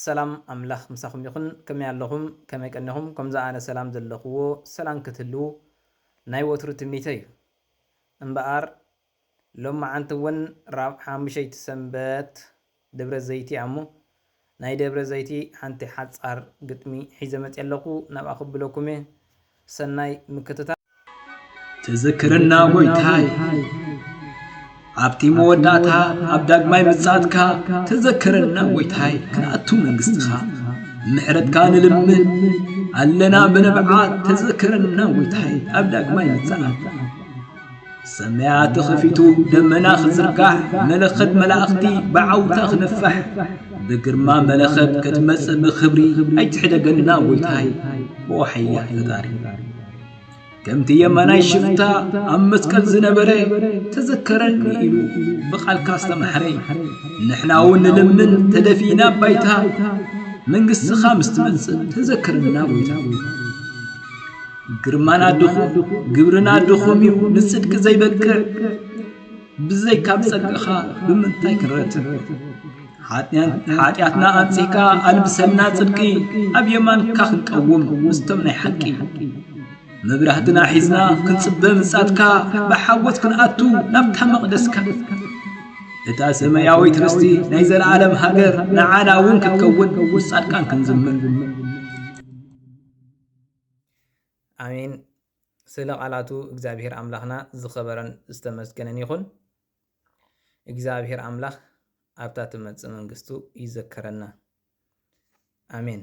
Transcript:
ሰላም ኣምላኽ ምሳኹም ይኹን ከመይ ኣለኹም ከመይ ቀኒኹም ከምዚ ኣነ ሰላም ዘለኽዎ ሰላም ክትህልዉ ናይ ወትሩ ትምኒተይ እዩ እምበኣር ሎምዓንቲ እውን ራብ ሓሙሸይቲ ሰንበት ደብረ ዘይቲ ኣሞ ናይ ደብረ ዘይቲ ሓንቲ ሓጻር ግጥሚ ሒዘ መጺ ኣለኹ ናብኣ ክብለኩም እየ ሰናይ ምክትታል። ትዝክረና ጎይታይ ኣብቲ መወዳእታ ኣብ ዳግማይ ምጽኣትካ ትዘክረና ጎይታይ ክንኣቱ መንግስትኻ ምሕረትካ ንልምን ኣለና ብንብዓት ትዝክረና ጎይታይ ኣብ ዳግማይ ምጽኣት ሰማያት ተኸፊቱ ደመና ክዝርጋሕ መለኸት መላእኽቲ ብዓውታ ክነፋሕ ብግርማ መለኸት ክትመጽእ ብኽብሪ ኣይትሕደገና ጐይታይ ብወሓያ ፈጣሪ ከምቲ የማናይ ሽፍታ ኣብ መስቀል ዝነበረ ተዘከረኒ ኢሉ ብቓልካ ዝተማሕረ ንሕና እውን ንልምን ተደፊእና ባይታ መንግስትኻ ምስ ትመጽእ ተዘከረና ጐይታ ግርማና ድኹም ግብርና ድኹም እዩ ንጽድቂ ዘይበቅዕ ብዘይ ካብ ጸድቅኻ ብምንታይ ክንረትዕ ሓጢኣትና ኣንጺሕካ ኣልብሰና ጽድቂ ኣብ የማንካ ክንቀውም ምስቶም ናይ ሓቂ መብራህትና ሒዝና ክንጽበ ምጻትካ ብሓጎት ክንኣቱ ናብታ መቕደስካ እታ ሰማያዊት ርስቲ ናይ ዘለዓለም ሃገር ንዓና እውን ክትከውን ምስ ጻድቃን ክንዝምር ኣሜን ስለ ቃላቱ እግዚኣብሔር ኣምላኽና ዝኸበረን ዝተመስገነን ይኹን። እግዚኣብሔር ኣምላኽ ኣብታ ትመጽእ መንግስቱ ይዘከረና። ኣሜን።